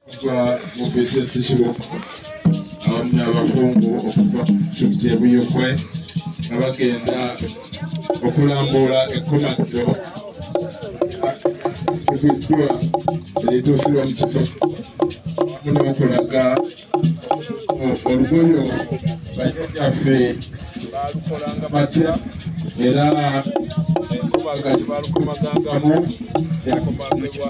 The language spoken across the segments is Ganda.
okuva mu ofiisi ya Ssekiboobo awamu n'abakungu okuva disitulikiti e Buyikwe nga bagenda okulambuula ekkomagiro eziddwa erituusibwa mu kifo awamu n'okulaga olugoyo bajjajjaffe baalukolanga batya era enkomaga gye baalukomagangamu yakomagibwa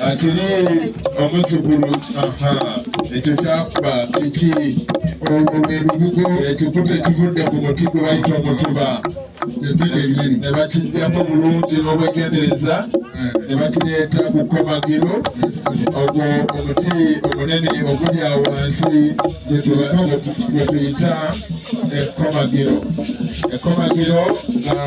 akiri omuzukulu aha ekyo kyakuba kiki olwo lwe lubugo ekikuta ekivudde ku muti gwe bayita omutuba ne bakijjako bulungi n'obwegendereza ne bakireeta ku kkomagiro ogwo omuti omunene oguli awo wansi gwe tuyita ekkomagiro ekkomagiro nga